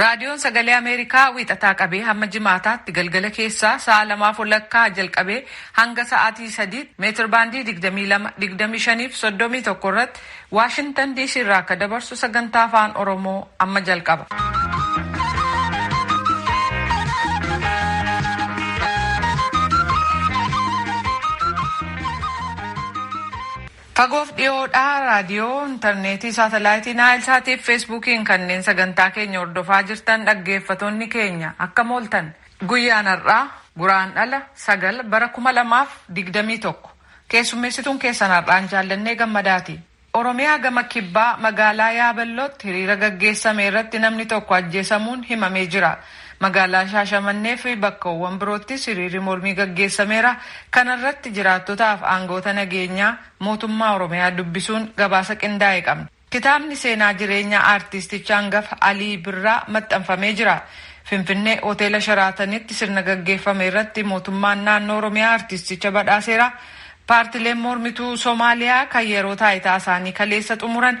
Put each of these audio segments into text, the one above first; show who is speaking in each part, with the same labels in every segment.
Speaker 1: Raadiyoon Sagalee Ameerikaa wiixataa qabee hamma jimaataatti galgala keessaa sa'a lamaaf walakkaa jalqabee hanga sa'aatii sadiitti meetir baandii 22-25 fi 31 irratti Waashintan DC irraa akka dabarsu sagantaa afaan Oromoo amma jalqaba. Fagoof dhiyoodhaa raadiyoo, interneetii, saatalaayitii Naayilsaatii fi Feesbuukiin kanneen sagantaa keenya hordofaa jirtan dhaggeeffatonni keenya akkam ooltan. Guyyaan har'aa Guraandhala sagal bara kuma lamaa fi digdamii tokko. Keessummeessituun keessan har'aan Jaallannee Gammadaati. Oromiyaa gama Kibbaa magaalaa Yaaballootti hiriira gaggeessame irratti namni tokko ajjeesamuun himamee jira. Magaalaa Shaashamannee fi bakkawwan biroottis hiriirri mormii gaggeessameera. Kana irratti jiraattotaaf aangawoota nageenyaa mootummaa Oromiyaa dubbisuun gabaasa qindaa'e qabna. Kitaabni seenaa jireenya aartiisticha angafa Alii Birraa maxxanfamee jira. Finfinnee Hoteela Sharaatanitti sirna gaggeeffame irratti mootummaan naannoo Oromiyaa aartiisticha badhaaseera. Paartileen mormituu Somaaliyaa kan yeroo taayitaa isaanii kaleessa xumuran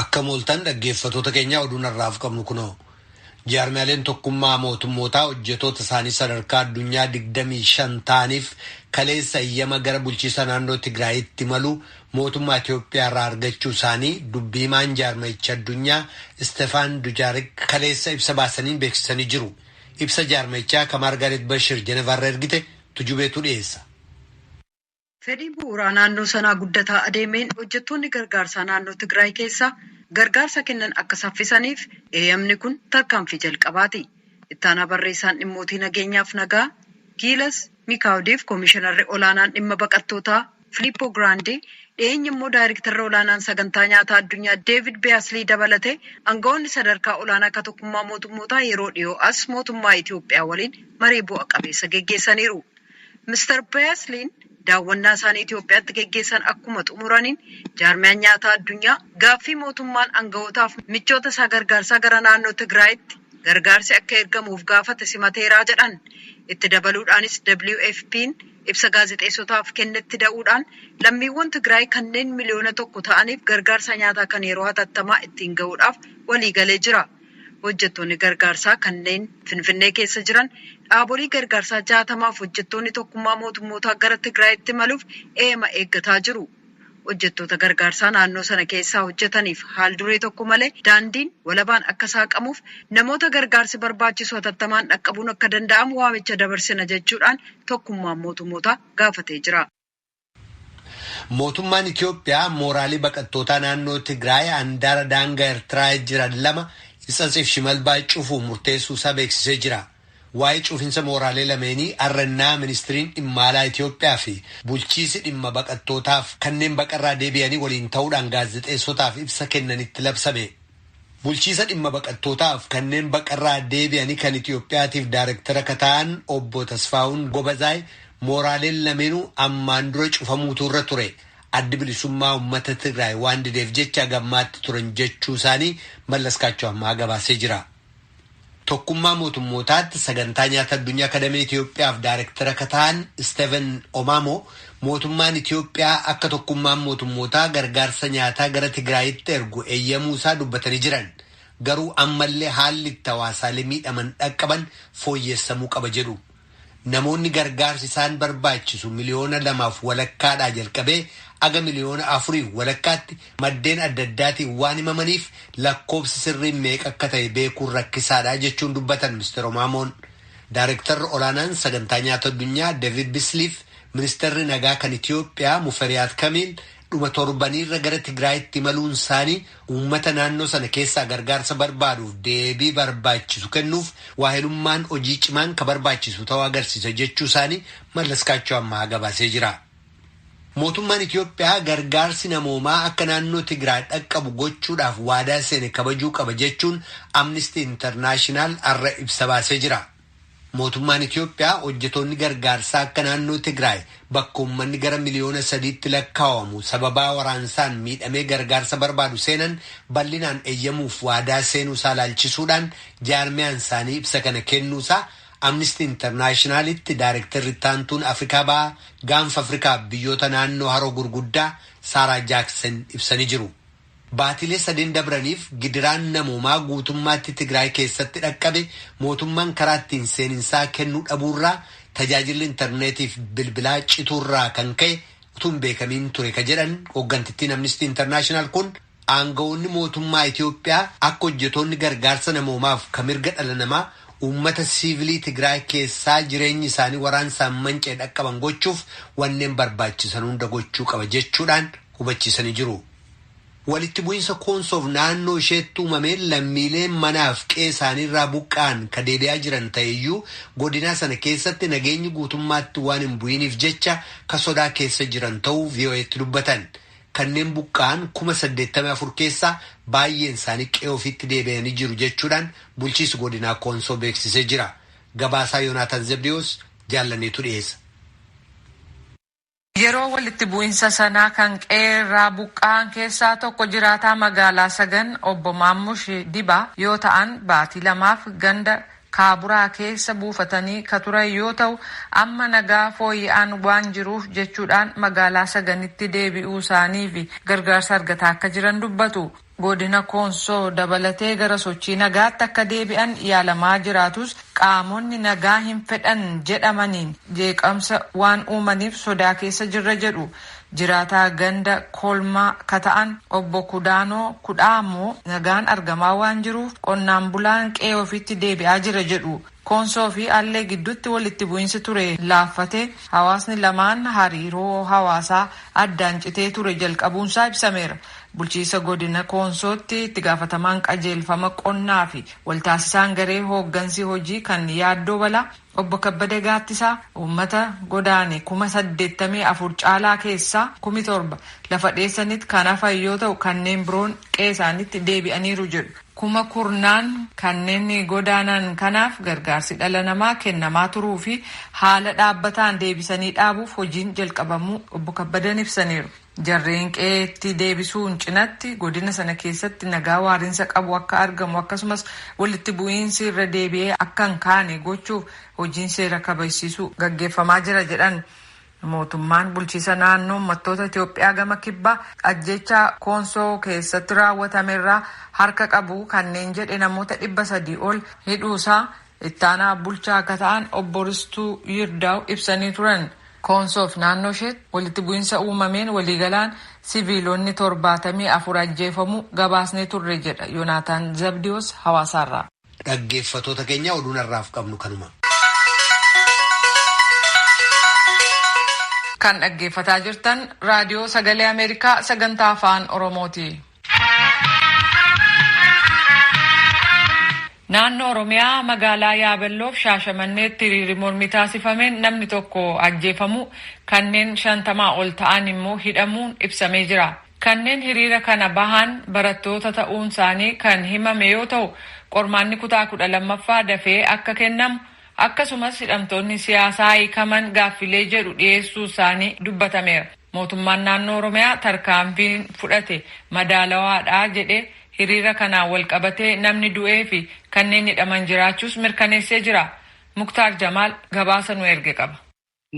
Speaker 2: Akkam ooltan dhaggeeffatoota keenyaa oduun har'aaf qabnu kunoo. Jaarmiyaaleen tokkummaa mootummootaa hojjetoota isaanii sadarkaa addunyaa 25 ta'aniif kaleessa eyyama gara bulchiisa naannoo Tigraayitti malu mootummaa Itoophiyaa irraa argachuu isaanii dubbii himaan jaarmayicha addunyaa Istefaan Dujaarik kaleessa ibsa baasaniin beeksisanii jiru. Ibsa jaarmayichaa ka Maargaaret Bashir Jenevaarra ergite tujubeetu dhiyeessa.
Speaker 3: Fedhiin bu'uuraa naannoo sanaa guddataa adeemeen hojjettoonni gargaarsaa naannoo Tigraay keessaa gargaarsa kennan akka saffisaniif eeyamni kun tarkaanfii jalqabaati. Ittaanaa barreessaan dhimmootii nageenyaaf nagaa Giilas Mikaawdiif komishinarri olaanaan dhimma baqattootaa Filiippoo Giraandii dhiyeenya immoo daayrektarri olaanaan sagantaa nyaataa addunyaa Deevid Beeyaslii dabalatee angawoonni sadarkaa olaanaa ka tokkummaa mootummootaa yeroo dhiyoo as mootummaa Itiyoophiyaa waliin marii bu'a qabeessa geggeessaniiru. Mr Beaslin daawwannaa isaanii Itiyoophiyaatti geggeessan akkuma xumuraniin jaarmiyaan nyaataa addunyaa gaaffii mootummaan anga'ootaaf michoota isaa gargaarsaa gara naannoo Tigraayitti gargaarsi akka ergamuuf gaafate simateeraa jedhan. Itti dabaluudhaanis WFP'n ibsa gaazexeessotaaf kennetti da'uudhaan lammiiwwan Tigraay kanneen miliyoona tokko ta'aniif gargaarsa nyaataa kan yeroo hatattamaa ittiin ga'uudhaaf waliigalee jira. Hojjettoonni gargaarsaa kanneen Finfinnee keessa jiran dhaabolii gargaarsaa 60f hojjettoonni Tokkummaa Mootummootaa gara Tigraayitti imaluuf eeyama eeggataa jiru. Hojjettoota gargaarsaa naannoo sana keessaa hojjetaniif haal-duree tokko malee daandiin walabaan akka saaqamuuf namoota gargaarsi barbaachisu hatattamaan dhaqqabuun akka danda'amu waamicha dabarsina jechuudhaan Tokkummaan Mootummootaa gaafatee jira. Mootummaan
Speaker 2: Itiyoophiyaa mooraalee baqattootaa naannoo Tigraay andaara daangaa Ertiraa jiran lama Itsatsiif Shimalbaa cufu murteessuu isaa beeksisee jira. Waa'ee cufinsa mooraalee lameenii har'a innaa Ministiriin Dhimma Alaa Itiyoophiyaa fi bulchiisi dhimma baqattootaaf kanneen baqarraa deebi'anii waliin ta'uudhaan gaazexeessotaaf ibsa kennanitti labsame. Bulchiisa dhimma baqattootaaf kanneen baqarraa deebi'anii kan Itiyoophiyaatiif daarektara akka ta'an obbo Tasfaahun Gobazaay mooraaleen lameenuu ammaan dura cufamuutu irra ture addi bilisummaa ummata Tigraay waan dideef jecha hagammaatti turan jechuusaanii Mallaskaachoo Ammahaa gabaasee jira. Tokkummaa Mootummootaatti Sagantaa Nyaata Addunyaa akka damee Itiyoophiyaaf Daarektara akka ta'an Isteeven Omaamoo mootummaan Itiyoophiyaa akka tokkummaan mootummootaa gargaarsa nyaataa gara Tigraayitti ergu eeyyamuu isaa dubbatanii jiran. Garuu ammallee haalli itti hawaasaalee miidhaman dhaqqaban fooyyessamuu qaba jedhu. Namoonni gargaarsi isaan barbaachisu miliyoona lamaaf walakkaadhaa jalqabee aga miliyoona afuriif walakkaatti maddeen adda addaatiin waan himamaniif lakkoobsi sirriin meeqa akka ta'e beekuun rakkisaadha jechuun dubbatan Mr. Omaamoon. Daarektarri olaanaan sagantaa nyaata addunyaa Deevid Bisliif ministeerri nagaa kan Itiyoophiyaa Muferiyaat Kamiil dhuma torbaniirra gara Tigraayitti imaluun isaanii Uummata naannoo sana keessaa gargaarsa barbaaduuf deebii barbaachisu kennuuf waahilummaan hojii cimaan ka barbaachisu ta'uu agarsiisa jechuu isaanii Mallaskaachoo Ammahaa gabaasee jira. Mootummaan Itiyoophiyaa gargaarsi namoomaa akka naannoo Tigraay dhaqqabu gochuudhaaf waadaa seene kabajuu qaba jechuun Amnistii Intarnaashinaal har'a ibsa baasee jira. Mootummaan Itiyoophiyaa hojjetoonni gargaarsaa akka naannoo Tigraay bakka uummanni gara miliyoona sadiitti lakkaawamu sababaa waraansaan miidhamee gargaarsa barbaadu seenan bal'inaan eyyamuuf waadaa seenuusaa ilaalchisuudhaan jaarmiyaan isaanii ibsa kana kennuusaa Amnistii Intarnaashinaalitti Daarektarri Ittaantuun Afrikaa Bahaa, Gaanfa Afrikaaf biyyoota naannoo haroo gurguddaa Saaraa Jaaksen ibsanii jiru. Baatilee sadeen dabraniif gidiraan namoomaa guutummaatti Tigraay keessatti dhaqqabe mootummaan karaa ittiin seeninsaa kennuu dhabuurraa tajaajilli intarneetiif bilbilaa cituurraa kan ka'e utuu hin beekamiin ture ka jedhan hooggantittiin Amnistii Intarnaashinaal kun aanga'oonni mootummaa Itiyoophiyaa akka hojjetoonni gargaarsa namoomaaf ka mirga dhala namaa uummata siivilii Tigraay keessaa jireenyi isaanii waraansaan manca'e dhaqqaban gochuuf wanneen barbaachisan hunda gochuu qaba jechuudhaan hubachiisanii jiru. Walitti bu'insa Koonsoof naannoo isheetti uumameen lammiileen manaaf qe'ee isaaniirraa buqqa'an ka deebi'aa jiran ta'eyyuu godinaa sana keessatti nageenyi guutummaatti waan hin bu'iniif jecha ka sodaa keessa jiran ta'uu VOA'tti dubbatan. Kanneen buqqa'an kuma 84 keessaa baayyeen isaanii qe'ee ofiitti deebi'anii jiru jechuudhaan bulchiisi godinaa Koonsoo beeksisee jira. Gabaasaa Yonaataan Zebdiyoos Jaallanneetu dhiyeessa.
Speaker 1: Yeroo walitti bu'insa sanaa kan qe'ee irraa buqqa'an keessaa tokko jiraataa magaalaa Sagan Obbo Maammush Dibaa yoo ta'an baatii lamaaf ganda Kaaburaa keessa buufatanii ka turan yoo ta'u amma nagaa fooyya'aan waan jiruuf jechuudhaan magaalaa Saganitti deebi'uu isaanii fi gargaarsa argataa akka jiran dubbatu. Godina Koonsoo dabalatee gara sochii nagaatti akka deebi'an yaalamaa jiraatus qaamonni nagaa hin fedhan jedhamaniin jeeqamsa waan uumaniif sodaa keessa jirra jedhu. Jiraataa ganda Kolmaa ka ta'an Obbo Kudaanoo Kudhaa ammoo nagaan argamaa waan jiruuf qonnaan bulaan qe'ee ofiitti deebi'aa jira jedhu. Koonsoo fi Allee gidduutti walitti bu'insi ture laaffatee hawaasni lamaan hariiroo hawaasaa addaan citee ture jalqabuunsaa ibsameera. Bulchiisa Godina Koonsootti itti gaafatamaan qajeelfama qonnaa fi waltaasisaan garee hooggansi hojii kan yaaddoo balaa Obbo Kabbada Gaattisaa uummata godaane kuma saddeettamii afur caalaa keessaa kumi torba lafa dheessanit kan hafan yoo ta'u kanneen biroon qe'eesaanitti deebi'aniiru jedhu. kuma kurnaan kanneen godaanan kanaaf gargaarsi dhala namaa kennamaa turuu fi haala dhaabbataan deebisanii dhaabuuf hojiin jalqabamuu Obbo Kabbadan ibsaniiru. Jarreen qe'eetti deebisuun cinatti godina sana keessatti nagaa waarinsa qabu akka argamu akkasumas walitti bu'iinsi irra deebi'ee akka hin kaane gochuuf hojiin seera kabajsiisuu gaggeeffamaa jira jedhan. Mootummaan bulchiisa naannoo ummattoota Itoophiyaa gama kibbaa ajjeechaa Koonsoo keessatti raawwatamerraa harka qabu kanneen jedhe namoota 300 ol hidhuusaa itti aanaa bulchaa akka ta'an obbo Ristuu Yirdaaw ibsanii turan. Koonsoof naannoo isheetti walitti bu'insa uumameen waliigalaan siviilonni 74 ajjeefamuu gabaasnee turre jedha Yonaataan Zabdiwoos Hawaasaarraa. Dhaggeeffatoota
Speaker 2: keenya oduun har'aaf qabnu kanuma.
Speaker 1: Kan dhaggeeffataa jirtan raadiyoo sagalee Ameerikaa sagantaa afaan Oromooti. Naannoo Oromiyaa magaalaa Yaabelloof Shaashamanneetti hiriirri mormii taasifameen namni tokko ajjeefamuu kanneen shantamaa ol ta'an immoo hidhamuun ibsamee jira. Kanneen hiriira kana bahan barattoota ta'uun isaanii kan himame yoo ta'u, qormaanni kutaa kudha lammaffaa dafee akka kennamu, akkasumas hidhamtoonni siyaasaa hiikaman gaaffilee jedhu dhiyeessuu isaanii dubbatameera. Mootummaan Naannoo Oromiyaa tarkaanfiin fudhate madaalawaadha jedhee hiriira kanaan walqabatee namni du'ee fi kanneen hidhaman jiraachuus mirkaneessee jira. Muktaar Jamaal gabaasa nu erge qaba.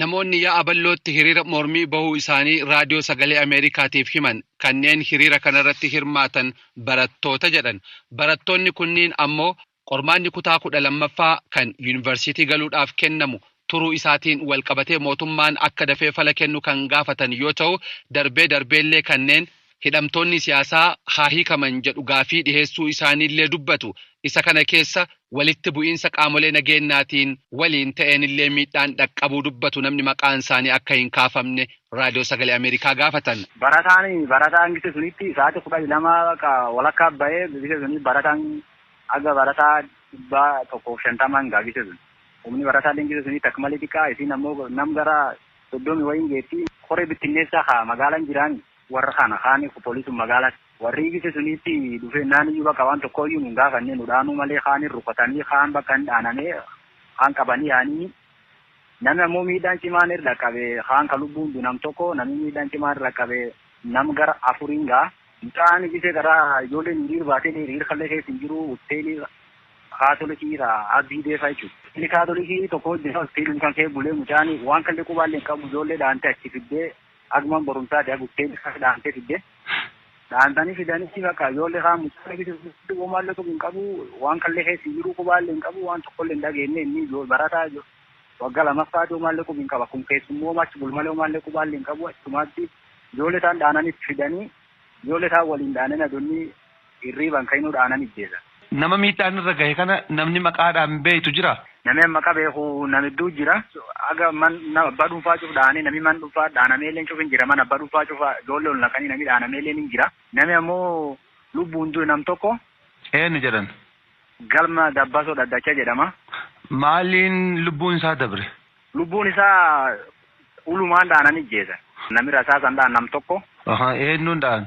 Speaker 1: Namoonni Yaa'a
Speaker 4: Ballootti hiriira mormii bahuu isaanii Raadiyoo Sagalee Ameerikaatiif himan kanneen hiriira kanarratti hirmaatan barattoota jedhan. Barattoonni kunniin ammoo qormaanni kutaa 12ffaa kan Yuunivarsiitii galuudhaaf kennamu turuu isaatiin walqabatee mootummaan akka dafee fala kennu kan gaafatan yoo ta'u, darbee darbeellee kanneen hidhamtoonni siyaasaa haa hiikaman jedhu gaaffii dhiheessuu isaaniillee dubbatu. Isa kana keessa walitti bu'iinsa qaamolee nageennaatiin waliin ta'eenillee miidhaan dhaqqabuu dubbatu namni maqaan isaanii akka hin kaafamne Raadiyoo Sagalee Ameerikaa gaafatan. Barataan barataan
Speaker 5: gise sunitti sa'aatii kudhanii lama bakka walakkaa ba'ee gise suni barataan haga barataa dhibbaa tokkoof shantamaan gaa gise sun. Humni barataalleen gise sunitti akka malee xiqqaa isiin ammoo nam gara soddomi wayiin geetti. Koree bittinneessaa haa magaalaan jiraanii. Warra kana kaan eegu polisun magala warri ibise suni itti dhufe nani yu bakka wan tokko yu nun gafanne nu dhaanu male kaan hin rukatani kaan bakka hin dhaaname kaan qabani yaanini nami ammo miidhaan cimaan irra dhaqabe kaan ka lubbun du nam tokko nami miidhaan cimaan irra dhaqabe nam gara afuri hin gaha. Mucaan ibise gara ijoolleen hiriir baate hiriir kalle keessa hin jiru utteeli kaatolikii ta abbii deefa jechu. Utteeli kaatolikii tokko jira utteelum kan kee bule mucaan wan kalle qubaalle hin qabu ijoollee dhaante achi fidde Hagman borumsaa dea guttee ilkaan dhaantee fidde. Dhaantanii fidanii bakka ijoollee kaan mucaa lakkisuu fiddu womaallee qubi hin qabu waan kallee keessa hin jiruu qubaallee hin qabu waan tokkollee hin dhageenne inni barataa waggaa lamaffaati womaallee qubi hin qabu akkum keessummooma achi bulu malee womaallee qubaallee hin qabu achumaatti ijoollee taan dhaananii itti fidanii ijoollee taan waliin dhaananii adonnii Hirriibaan ka'inuu dhaanan ijjeesa. Nama miidhaan irra
Speaker 4: gahe kana namni maqaadhaan beektu jiraa? Nami an maqa beekhu
Speaker 5: nam hedduu jira. Haga man nama abbaa dhunfaa cuf dhaane, nami man dhunfaa dhaanameeleen cuf hin jira. Man abbaa dhunfaa cufa ijoollee ol naqanii nami dhaanameeleen hin jira. Nami ammoo lubbuun du'e nam tokko. Eennu jedhan?
Speaker 4: Galma
Speaker 5: Dabbasoo Dhaddacha jedhama. Maaliin
Speaker 4: lubbuun isaa dabre? Lubbuun isaa
Speaker 5: ulumaan dhaanan ijjeesan. Nami rasaasaan dha'an nam tokko. Eennuun dha'an?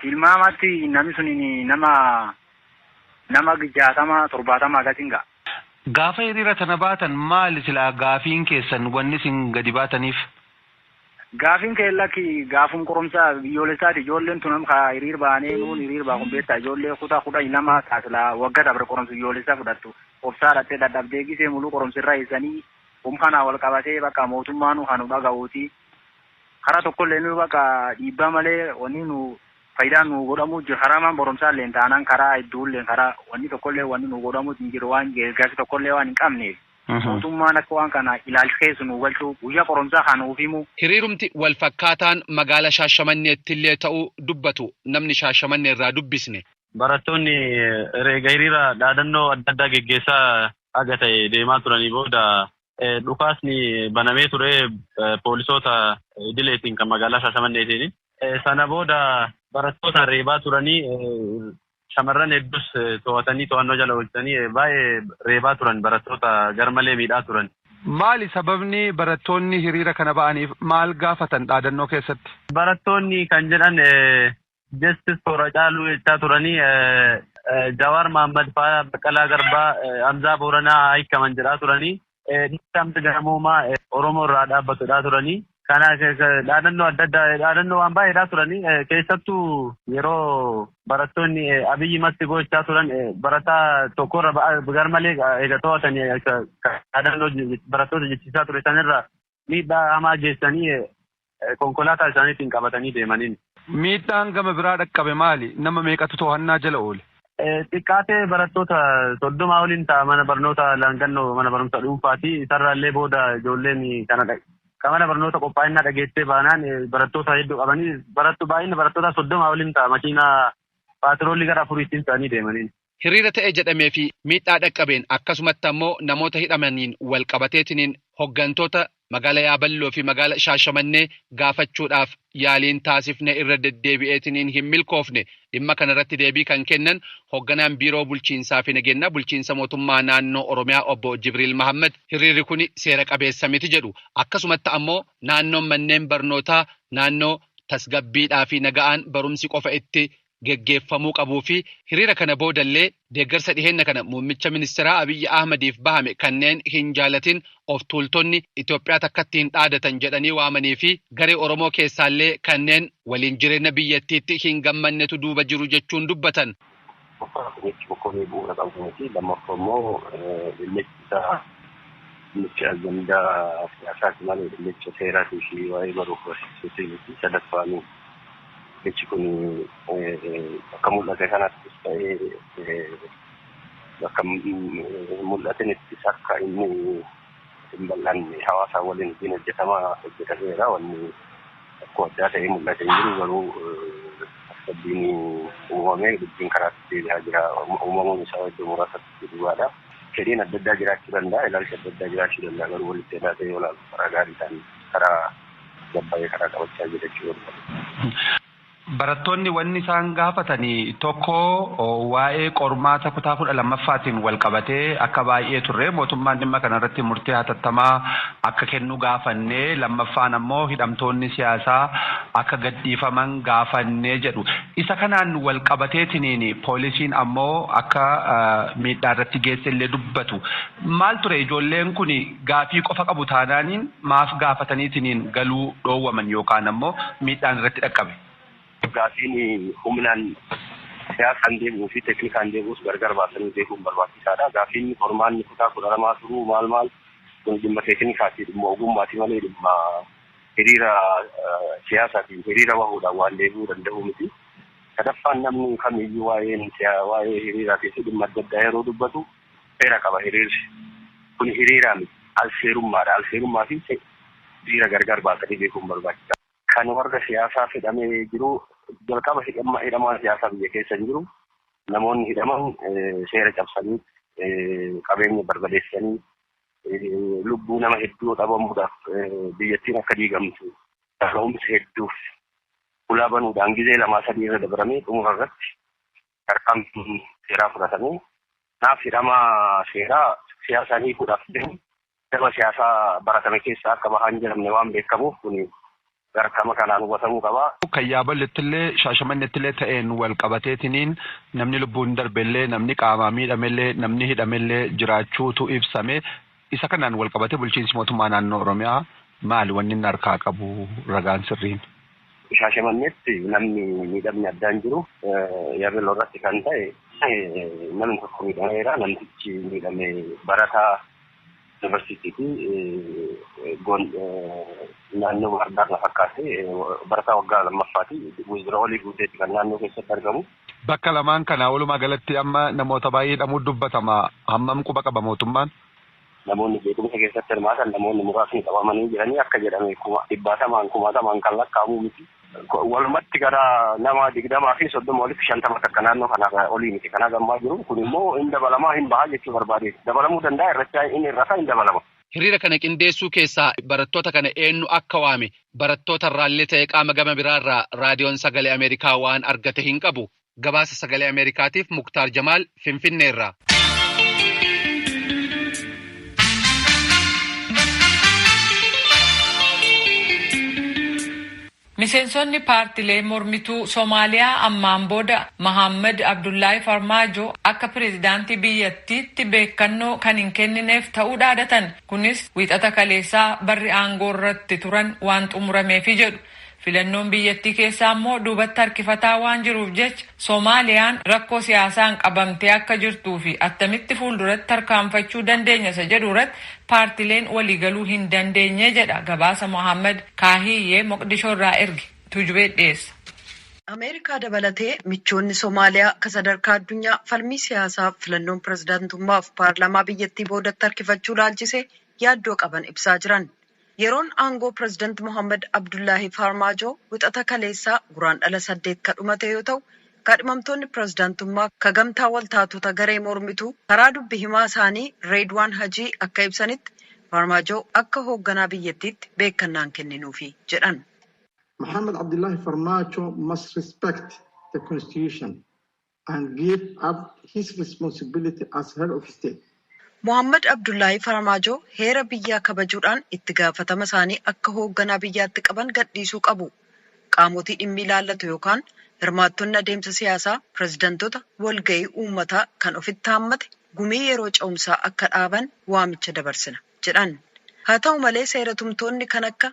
Speaker 5: Tilmaamatti nami sunini nama nama jaatama torbaatama akasi ingaa. Gaafa hiriira
Speaker 4: tana baatan maali silaa gaafiin keessan wanni isin gadi baataniif?
Speaker 5: Gaafiin keenya lakki gaafum qorumsa biyyoolessaati ijoolleen tun amma kaa hiriir baanee nuun hiriir baa kun beektaa ijoollee kutaa kudhanii lama taa silaa wagga dabre qorumsa biyyoolessaa fudhattu obsaa dhattee dadhabdee gisee muluu qorumsa irra eessanii um kanaa wal qabatee bakka mootummaanuu haa nu dhaga'uutii Karaa tokkolleenuu baqa dhiibbaa malee wanii nu fayidaan nuu godhamuu jiru karaa maan boromsaalleen taanaan karaa idduulleen karaa wanii tokkollee wanii nuu godhamuu hin jiru waan geergaarsi tokkollee waan hin qabneef mootummaan akka waan kana ilaalch keessa nuu galchuu guyyaa qoromsaa kaa nuuf himuu. Hiriirumti wal
Speaker 4: fakkaataan magaala Shaashamanneettillee ta'uu dubbatu namni Shaashamannee irraa dubbisne. Barattoonni
Speaker 6: ereega hiriira dhaadannoo adda addaa geggeessaa haga ta'e deemaa turanii booda dhukaasni banamee ture poolisoota idileetiin kan magaalaa Shaashamanneetiin. Sana booda barattoota reebaa turanii shamarran hedduus to'atanii to'annoo jala oolchanii baay'ee reebaa turan barattoota garmalee miidhaa turan. Maali sababni
Speaker 4: barattoonni hiriira kana ba'aniif maal gaafatan dhaadannoo keessatti? Barattoonni kan
Speaker 6: jedhan Justice for Hacaaluu jechaa turanii Jawaar Mahaammad faa Baqqalaa Garbaa Hamzaa Booranaa haa hiikaman jedhaa turanii dhiibbaa mirga namoomaa Oromoo irraa dhaabbatu jedhaa turanii kana dhaadannoo adda addaa dhaadannoo waan baay'ee jedhaa turanii keessattuu yeroo barattoonni abiyyi matti gochaa turan barataa tokkorra garmalee egaa to'atanii dhaadannoo barattoota jechisiisaa ture sanirraa miidhaa hamaa geessanii konkolaataa isaaniitiin qabatanii deemaniin. Miidhaan gama
Speaker 4: biraa dhaqqabe maali? Nama meeqatu tohannaa jala oole? Xiqqaatee
Speaker 6: barattoota 30 oliin ta'a mana barnootaa Laangannoo mana barumsa dhuunfaati. Isarraallee booda ijoolleen kana kan mana barnoota qophaa'inaa dhageessee baanaan barattoota hedduu qabanii barattu baay'inni barattootaa 30 oliin ta'a makiinaa paatiroolii gara afuriitiin ta'anii deemaniin. Hiriira ta'e jedhamee
Speaker 4: fi miidhaa dhaqqabeen akkasumatti ammoo namoota hidhamaniin wal qabateetiniin hoggantoota magaala Yaaballoo fi magaala Shaashamannee gaafachuudhaaf yaaliin taasifne irra deddeebi'eetiniin hin milkoofne. Dhimma kana irratti deebii kan kennan hogganaan Biiroo Bulchiinsaa fi Nageennaa Bulchiinsa Mootummaa Naannoo Oromiyaa obbo Jibriil Mahaammad hiriirri kuni seera qabeessa miti jedhu. Akkasumatti ammoo naannoon manneen barnootaa naannoo tasgabbiidhaa fi naga'aan barumsi qofa itti geggeeffamuu qabuu fi hiriira kana boodallee deeggarsa dhiheenna kana muummicha ministeeraa Abiyyi Ahmadiif bahame kanneen hin jaalatin of tuultonni Itoophiyaa takkatti hin dhaadatan jedhanii waamanii fi garee Oromoo keessaallee kanneen waliin jireenna biyyattiitti hin gammannetu duuba jiru jechuun dubbatan. Tokkoffaa jechi
Speaker 7: Bokonii bu'uura qabu miti. Lammaffaa immoo dhimmichi isaa dhimmicha ajandaa siyaasaati malee dhimmicha seeraatii fi waa'ee baruuf barsiisuutii miti. Sadaffaan. Jechi kun bakka mul'ate kanattis ta'ee bakka hin mul'atinittis akka inni hin bal'anne hawaasaa waliin hojiin hojjetamaa hojjetameera. Wanni rakkoo addaa ta'ee mul'ate hin jiru garuu tasgabbiin uumamee dubbiin karaatti deebi'aa jira. Uumamuun isaa iddoo muraasatti dhugaadha. Fedhiin adda addaa jiraachuu danda'a, ilaalchi adda addaa jiraachuu danda'a garuu walitti hidhaatee yoo ilaaltu karaa gaariidhaan karaa Hangam bayee karaa qabachaa jira jechuu barbaadee. Barattoonni
Speaker 4: wanni isaan gaafatan tokko waa'ee qormaata kutaa 12ffaatiin walqabatee akka baay'ee turre mootummaan dhimma kana irratti murtee hatattamaa akka kennu gaafanne lammaffaan ammoo hidhamtoonni siyaasaa akka gadhiifaman gaafanne jedhu. Isa kanaan walqabateetiniin poolisiin ammoo akka miidhaa irratti geesse illee dubbatu. Maal ture ijoolleen kun gaafii qofa qabu taanaaniin maaf gaafataniitiniin galuu dhoowwaman yookaan ammoo miidhaan irratti dhaqqabe? Gaafiin
Speaker 7: humnaan, siyaasaan deebi'uu fi teeknikaan deebi'us gargar baasanii beekuun barbaachisaa dha. Gaafiin qormaanni kutaa 12 turuu maal maal kun dhimma teeknikaati, dhimma ogummaati malee dhimma hiriira siyaasaatiin hiriira bahuudhaan waan deebi'uu danda'uu miti. Sadaffaan namni kamiyyuu waa'een waa'ee hiriiraatii fi dhimma adda addaa yeroo dubbatu, Seera qaba hiriirri. Kuni hiriira miti. Al-seerummaadha. Al-seerummaa fi seera gargar baasanii beekuun barbaachisaadha. Kan warra siyaasaaf hidhamee jiru jalqaba hidhamaan siyaasaa biyya keessa hin jiru. Namoonni hidhaman seera cabsanii, qabeenya barbadeessanii, lubbuu nama hedduu dhabamuudhaaf, biyyattiin akka diigamtu kaka'umsa hedduuf hulaa banuudhaan gizee lamaa sadii irra dabaramee xumura irratti tarkaanfii seeraa fudhatanii kanaaf hidhamaa seeraa siyaasaan hiikuudhaaf deemu daba siyaasaa baratame keessaa akka bahaa hin jiramne waan beekamuuf kuni garkama kanaan hubatamuu qaba. Kan Yaaballettillee
Speaker 4: Shaashamannettillee ta'een wal qabateetiniin namni lubbuun darbellee, namni qaamaan miidhamellee, namni hidhamellee jiraachuutu ibsame. Isa kanaan walqabatee bulchiinsi mootummaa naannoo Oromiyaa maali wanni inni harkaa qabu ragaan sirriin? Shaashamanneetti
Speaker 7: namni miidhamni addaa hin jiru. Yaabello irratti kan ta'e namni tokko miidhameera. Namtichi miidhame barataa yuunivarsiitiiti. Naannoo Baahirdaar na fakkaate. Barataa waggaa lammaffaati. Wizira Olii Guuteeti kan naannoo keessatti argamu. Bakka lamaan kana
Speaker 4: walumaa galatti amma namoota baay'ee hidhamuutu dubbatama. Hammam quba qaba mootummaan? Namoonni
Speaker 7: jeequmsa keessatti hirmaatan namoonni muraasni qabamanii jiranii akka jedhame kuma dhibbaatamaan kumaatamaan kan lakkaa'amu miti. Walumatti gara nama digdamaa fi soddoma olitti shantama takka naannoo kanaa olii miti kan haga ammaa jiru. Kun immoo hin dabalamaa hin bahaa jechuu barbaadeeti. Dabalamuu danda'a irrachaa hin hir'ata hin dabalama. Hiriira kana qindeessuu
Speaker 4: keessaa barattoota kana eennu akka waame barattoota irraallee ta'e qaama gama biraa irraa Raadiyoon Sagalee Ameerikaa waan argate hin qabu. Gabaasa Sagalee Ameerikaatiif Muktaar Jamaal Finfinnee irraa.
Speaker 1: Miseensonni paartilee mormituu Somaaliyaa ammaan booda Mahaammad Abdullaahi Farmaajoo akka pireezidaantii biyyattiitti beekkannoo kan hin kennineef ta'uu dhaadatan. Kunis Wiixata kaleessaa barri aangoorra itti turan waan xumurameefi jedhu. Filannoon biyyattii keessaa immoo duubatti harkifataa waan jiruuf jecha Somaaliyaan rakkoo siyaasaan qabamtee akka jirtuu fi attamitti fuulduratti tarkaanfachuu dandeenya isa jedhu irratti paartileen waliigaluu hin dandeenye jedha gabaasa Mohaammad Kaahiyyee Moqdishoo irraa erge. Tuujubee dhiyeessa. Ameerikaa
Speaker 3: dabalatee michoonni Somaaliyaa ka sadarkaa addunyaa falmii siyaasaaf filannoon pirezidantummaaf paarlaamaa biyyattii boodatti harkifachuu ilaalchisee yaaddoo qaban ibsaa jiran. Yeroon aangoo Pireezidant Mohaammad Abdullaahi Faarmaajoo Wixata kaleessaa Guraandhala 8 ka dhumate yoo ta'u, kaadhimamtoonni pireezidaantummaa ka gamtaa waltaatota garee mormituu karaa dubbi himaa isaanii Reedwaan Hajii akka ibsanitti, Faarmaajoo akka hoogganaa biyyattiitti beekkannaa hin kenninuufi jedhan. Mohamed
Speaker 8: Abdullahi Farmajo must respect the constitution and give up his responsibility as head of state. Mohaammad
Speaker 3: Abdullaahii Farmaajoo heera biyyaa kabajuudhaan itti gaafatama isaanii akka hoogganaa biyyaatti qaban gadhiisuu qabu. Qaamotii dhimmi ilaallatu yookaan hirmaattonni adeemsa siyaasaa pireezidantota walga'ii uummataa kan ofitti haammate gumii yeroo ce'umsaa akka dhaaban waamicha dabarsina, jedhan. Haa ta'u malee seera tumtoonni kan akka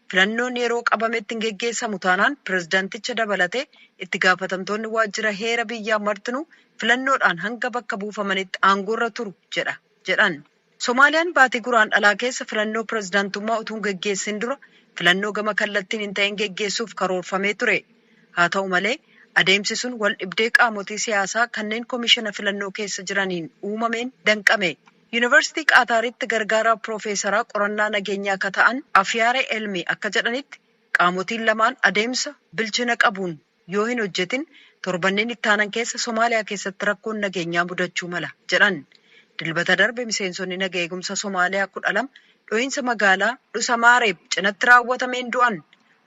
Speaker 3: Filannoon yeroo qabametti hin geggeessamu taanaan pirezidanticha dabalatee itti gaafatamtoonni waajjira heera biyyaa martinuu filannoodhaan hanga bakka buufamanitti aangoorra turu jedha jedhan. Somaaliyaan baatii Guraandhalaa keessa filannoo pirezidantummaa utuu hin geggeessin dura filannoo gama kallattiin hin ta'in geggeessuuf karoorfamee ture. Haa ta'u malee, adeemsi sun waldhibdee qaamotii siyaasaa kanneen komishina filannoo keessa jiraniin uumameen danqame. Yunivarsitii Qaataaritti gargaaraa piroofeesaraa qorannaa nageenyaa ka ta'an Afiyaare Elmi akka jedhanitti, qaamotiin lamaan adeemsa bilchina qabuun yoo hin hojjetin torbanneen ittaanan keessa Somaaliyaa keessatti rakkoon nageenyaa mudachuu mala jedhan. Dilbata darbe miseensonni naga eegumsa Somaaliyaa kudha lama dhohiinsa magaalaa Dhusamaareeb cinatti raawwatameen du'an.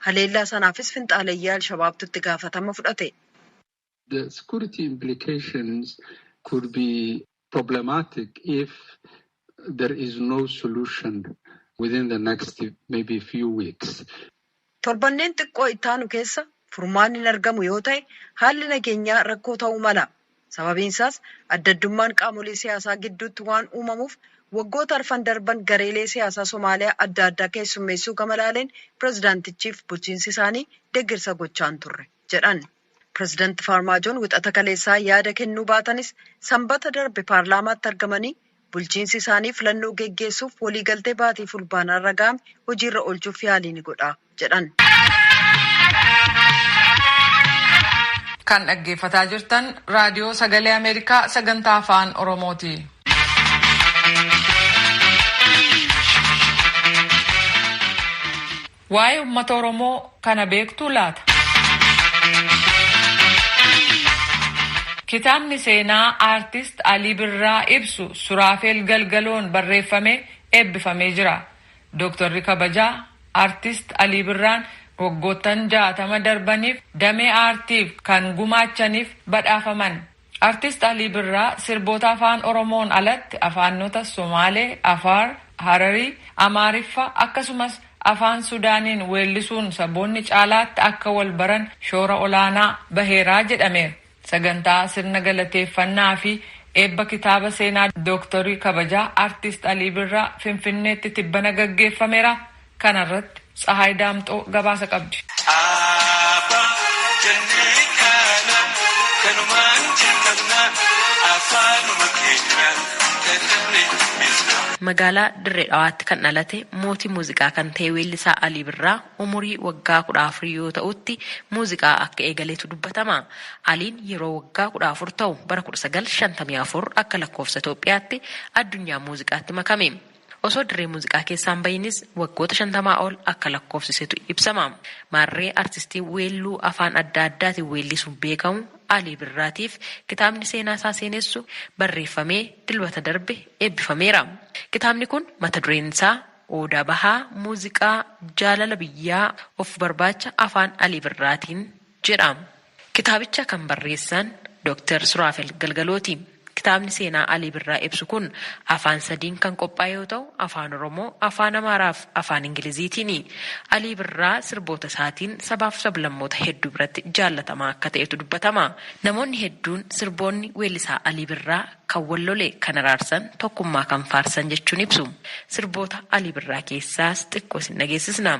Speaker 3: Haleellaa sanaafis finxaaleyyaa Alshabaabtu itti gaafatama fudhate. The
Speaker 9: security implications could be problematic if there is no solution within the next maybe few weeks. Torbanneen
Speaker 3: xiqqoo itti aanu keessa furmaanni hin argamu yoo ta'e haalli nageenyaa rakkoo ta'uu mala. Sababiin isaas adda addummaan qaamolee siyaasaa gidduutti waan uumamuuf waggoota arfan darban gareelee siyaasaa Somaaliyaa adda addaa keessummeessuu gama laaleen pirezidaantichiif bulchiinsi isaanii deeggarsa gochaan turre jedhan. Pireezidanti Faarmaajoon wixata kaleessaa yaada kennuu baatanis Sambata darbe paarlaamaatti argamanii bulchiinsi isaanii filannoo geggeessuuf waliigaltee baatii Fulbaanaarra ga'ame hojiirra oolchuuf yaalii ni godha jedhan.
Speaker 1: Kan dhaggeeffataa jirtan Raadiyoo Sagalee Ameerikaa sagantaa Afaan Oromooti. Waa'ee ummata Oromoo kana beektuu laata? Kitaabni seenaa Aartist Alii Birraa ibsu Suraafeel Galgaloon barreeffamee eebbifamee jira. Dooktarri kabajaa Aartist Alii Birraan waggoottan 60 darbaniif damee aartiif kan gumaachaniif badhaafaman. Artist Alii Birraa sirboota Afaan Oromoon alatti afaannota Somaalee, Afaar, Hararii, Amaariffa akkasumas Afaan Sudaaniin weellisuun saboonni caalaatti akka wal baran shoora olaanaa baheera jedhameera. Sagantaa sirna galateeffannaa fi eebba kitaaba seenaa Dooktorii kabajaa Artist Alii Birraa Finfinneetti tibbana gaggeeffamera. Kana irratti Tsahaay Daamxoo gabaasa qabdi. Aaba jennee kaana kanumaan jalqabna afaanuma
Speaker 10: keenyaan dadhabnee dubbisna. Magaalaa Dirre Dhawaatti kan dhalate mootii muuziqaa kan ta'e weellisaa Alii Birraa umurii waggaa kudha afur yoo ta'utti muuziqaa akka eegaletu dubbatama. Aliin yeroo waggaa kudha afur ta'u bara kudha sagal shantamii afur akka lakkoofsa Itoophiyaatti addunyaa muuziqaatti makame. Osoo dirree muuziqaa keessaa hin bahiinis waggoota shantamaa ol akka lakkoofsisetu ibsama. Maarree artistii weelluu afaan adda addaatiin weellisuun beekamu Alii Birraatiif kitaabni seenaa isaa seenessu barreeffamee Dilbata darbe eebbifameera. Kitaabni kun mata dureen isaa Odaa Bahaa Muuziqaa Jaalala Biyyaa Of Barbaacha Afaan Alii Birraatiin jedha. Kitaabicha kan barreessan Doktar Suraafel Galgalooti. Kitaabni seenaa Alii Birraa ibsu kun afaan sadiin kan qophaa'e yoo ta'u, Afaan Oromoo, Afaan Amaaraaf Afaan Ingiliziitiini. Alii Birraa sirboota isaatiin sabaaf sablammoota hedduu biratti jaallatamaa akka ta'etu dubbatama. Namoonni hedduun sirboonni weellisaa Alii Birraa kan wal lole kan araarsan, tokkummaa kan faarsan jechuun ibsu. Sirboota Alii Birraa keessaas xiqqoo isin dhageessisna.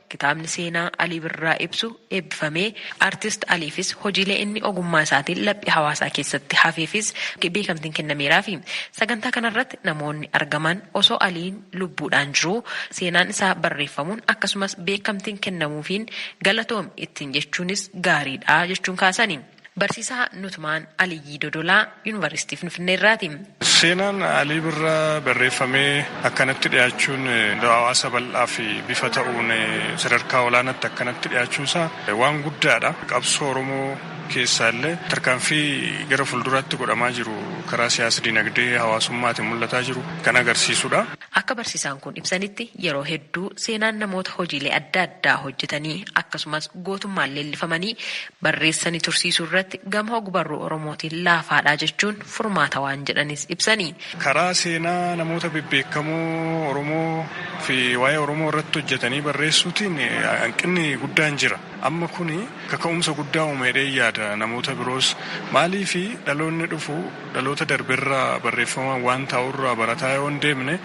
Speaker 10: Kitaabni seenaa Alii Birraa ibsu eebbifamee, Artist Aliifis hojiilee inni ogummaa isaatiin laphee hawaasaa keessatti hafeefis beekamtiin kennameeraafi. Sagantaa kanarratti namoonni argaman osoo Aliin lubbuudhaan jiruu seenaan isaa barreeffamuun akkasumas beekamtiin kennamuufiin galatoomi ittiin jechuunis gaariidha jechuun kaasani. Barsiisaa Nutmaan Aliyyii Dodolaa Yuunivarsiitii Finfinnee irraati. Seenaan
Speaker 11: Alii Birraa barreeffamee akkanatti dhiyaachuun hawaasa bal'aaf bifa ta'uun sadarkaa olaanaatti akkanatti dhiyaachuun isaa waan guddaadha. Qabsoo Oromoo keessaa illee tarkaanfii gara fuulduraatti godhamaa jiru karaa siyaas-dinagdee hawaasummaatiin mul'ataa jiru kan agarsiisudha. Akka barsiisaan
Speaker 10: kun ibsanitti, yeroo hedduu seenaan namoota hojiilee adda addaa hojjetanii akkasumas gootummaan leellifamanii barreessani tursiisuu irratti gama ogbarruu Oromootiin laafaadha jechuun furmaata waan jedhanis ibsani. Karaa seenaa
Speaker 11: namoota bebbeekamoo Oromoo fi waa'ee Oromoo irratti hojjetanii barreessuutiin hanqinni guddaan jira. Amma kuni kaka'umsa guddaa uuma jedheen yaada namoota biroos. Maaliif dhaloonni dhufu Dhaloota darberraa barreeffamaan waan taa'urraa barataa yoo hin deemne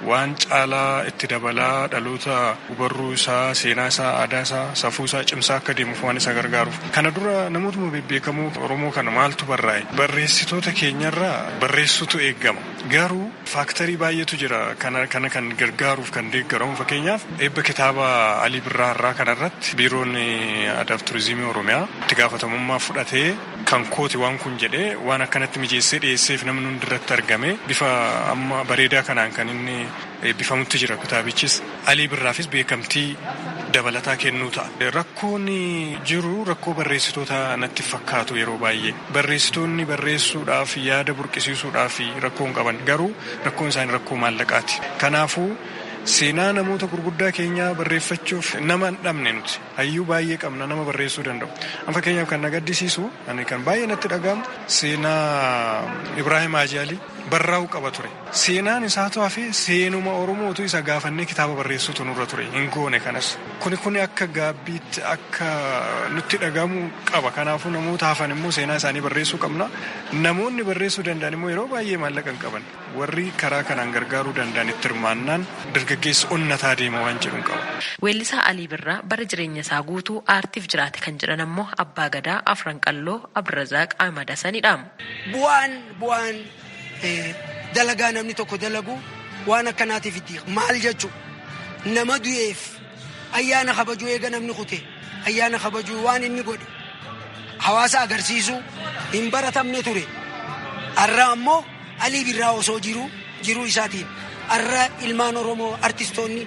Speaker 11: waan caalaa itti dabalaa dhaloota ogbarruu isaa, seenaa isaa, aadaa isaa, safuu isaa cimsaa akka deemuuf waan isa gargaaruuf. Kana dura namootuma bebbeekamoo Oromoo kana maaltu barraa'e? Barreessitoota keenyarraa barreessuutu eegama. Garuu faaktarii baay'eetu jira kana kana kan gargaaruuf kan deeggaru. Amma fakkeenyaaf eebba kitaaba Alii Birraa har'aa kanarratti Biiroon Aadaaf Turizimii Oromiyaa itti gaafatamummaa fudhatee, kan kooti waan kun jedhee waan akkanatti mijeessee dhiyeesseef namni hundi irratti argame bifa amma bareedaa kanaan kan inni eebbifamutti jira kitaabichis Alii Birraafis beekamtii dabalataa kennuu ta'a. Rakkoon jiru rakkoo barreessitoota natti fakkaatu yeroo baay'ee barreessitoonni barreessuudhaaf yaada burqisiisuudhaaf rakkoon qaban garuu rakkoon isaanii rakkoo maallaqaati. Kanaafuu seenaa namoota gurguddaa keenyaa barreeffachuuf nama hin dhabne nuti. Hayyuu baay'ee qabna nama barreessuu danda'u. An fakkeenyaaf kan na gaddisiisu ani kan baay'ee natti dhaga'amu seenaa Ibraahim Haajii Alii barraa'uu qaba ture. Seenaan isaatu hafee seenuma Oromoo utuu isa gaafannee kitaaba barreessuutu nurra ture hin goone kanas. Kuni kuni akka gaabbiitti akka nutti dhaga'amu qaba. Kanaafuu namoota hafan immoo seenaa isaanii barreessuu qabna. Namoonni barreessuu danda'an immoo yeroo baay'ee maallaqa hin qaban. Warri karaa kanaan gargaaruu danda'an itti hirmaannaan dargaggeessi onnataa deema waan jedhun qaba. Weellisaa Alii
Speaker 10: Birraa bara jireenya isaa guutuu aartiif jiraate kan jedhan ammoo Abbaa Gadaa Afran Qalloo Abdurazaaq Ahmad Hasanidha. Bu'aan
Speaker 12: bu'aan dalagaa namni tokko dalagu waan akkanaatiif itti maal jechu nama du'eef ayyaana kabajuu eega namni kute ayyaana kabajuu waan inni godhe hawaasa agarsiisuu hin baratamne ture har'a ammoo Alii Birraa osoo jiruu jiruu isaatiin arra ilmaan Oromoo artistoonni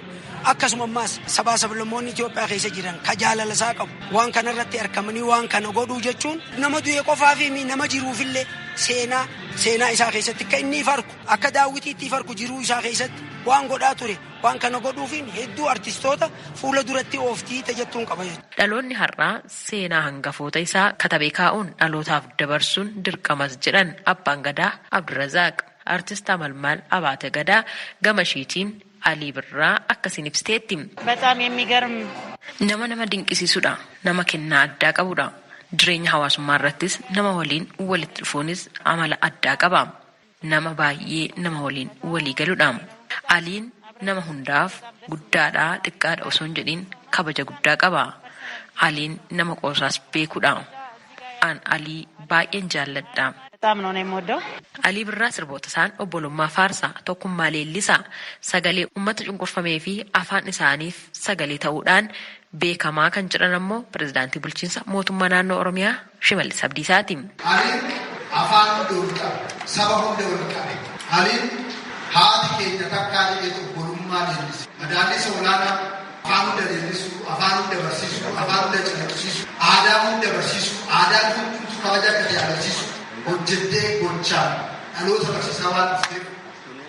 Speaker 12: akkasuma ammaas sabaa sablammoonni Itoophiyaa keessa jiran ka jaalala isaa qabu waan kana irratti arkamanii waan kana godhuu jechuun nama du'e qofaafii mi nama jiruufillee seenaa seenaa isaa keessatti akka inni farku akka daawwitiitti farku jiruu isaa keessatti waan godhaa ture waan kana godhuufiin hedduu artistoota fuula duratti ooftii tajattuun qaba jechuudha. Dhaloonni har'aa
Speaker 10: seenaa hangafoota isaa katabee kaa'uun dhalootaaf dabarsuun dirqamas jedhan Abbaan Gadaa Abdurazaaq. Artist Amalmaal Abaate Gadaa gama ishiitiin Alii Birraa akkasiin ibsiteetti. Bexaam yemigarm.
Speaker 13: Nama nama
Speaker 10: dinqisiisudha. Nama kennaa addaa qabudha. Jireenya hawaasummaa irrattis nama waliin walitti dhufuunis amala addaa qaba. nama baay'ee nama waliin walii galudha. Aliin nama hundaaf guddaadha xiqqaadha osoo hin jedhin kabaja guddaa qaba. Aliin nama qoosaas beekudha. An Alii baay'een jaalladha. Alii Birraa sirbootasaan obbolummaa faarsa, tokkummaa leellisa, sagalee ummata cunqurfameefi afaan isaaniif sagalee ta'uudhaan beekamaa kan jedhan ammoo Pirezidaantii Bulchiinsa Mootummaa Naannoo Oromiyaa Shimallis Abdiisaa ti. Aliin
Speaker 14: afaan hunda wal qabe, saba hunda wal qabe. Aliin haati keenya takkaa jedheet obbolummaa leellise. Madaallisa olaanaa afaan hunda leellisuu, afaan hunda barsiisuu, afaan hunda calaqqisiisuu, aadaa hunda barsiisuu, aadaan hundumtuu kabaja akka ta'e agarsiisuu hojjettee gochaan dhaloota barsiisaa waan dhufteef,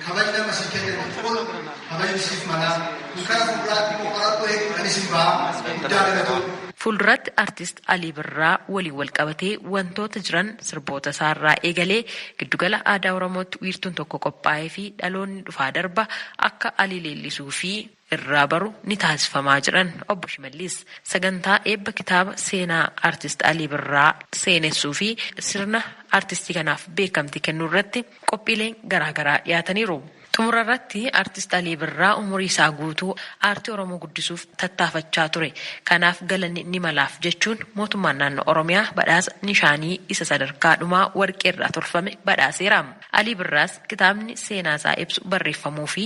Speaker 14: Kabajni amma sii kenname kun kabajni siif malaa. Kun kara fuulduraatti immoo qorattoo hedduu kan isin ba'a. Guddaa galatoomna. Fuulduratti Artist
Speaker 10: Alii Birraa waliin walqabatee wantoota jiran sirboota isaa irraa eegalee Giddugala Aadaa Oromootti wiirtuun tokko qophaa'eefii dhaloonni dhufaa darba akka Alii leellisuu fi irraa baru ni taasifamaa jedhan Obbo Shimallis. Sagantaa eebba kitaaba seenaa Artist Alii Birraa seenessuu fi sirna Artistii kanaaf beekamtii kennuu irratti qophiileen garaa garaa dhiyaataniiru. Xumura irratti Artist Alii Birraa umurii isaa guutuu aartii Oromoo guddisuuf tattaafachaa ture. Kanaaf galanni ni malaaf jechuun Mootummaan Naannoo Oromiyaa badhaasa Nishaanii isa sadarkaa dhumaa Warqee irraa tolfame badhaaseera. Alii Birraas kitaabni seenaa isaa ibsu barreeffamuu fi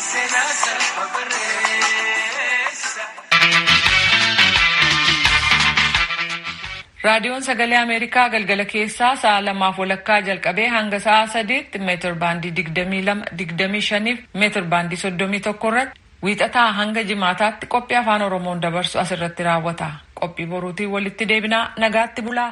Speaker 1: Seenaa saba barreessa. Raadiyoon Sagalee Ameerikaa galgala keessaa sa'a lamaaf walakkaa jalqabee hanga sa'a sadiitti meetir baandii 22, 25 fi meetir baandii 31 irratti wiixataa hanga jimaataatti qophii afaan Oromoon dabarsu asirratti raawwata. Qophii boruutiin walitti deebinaa nagaatti bulaa.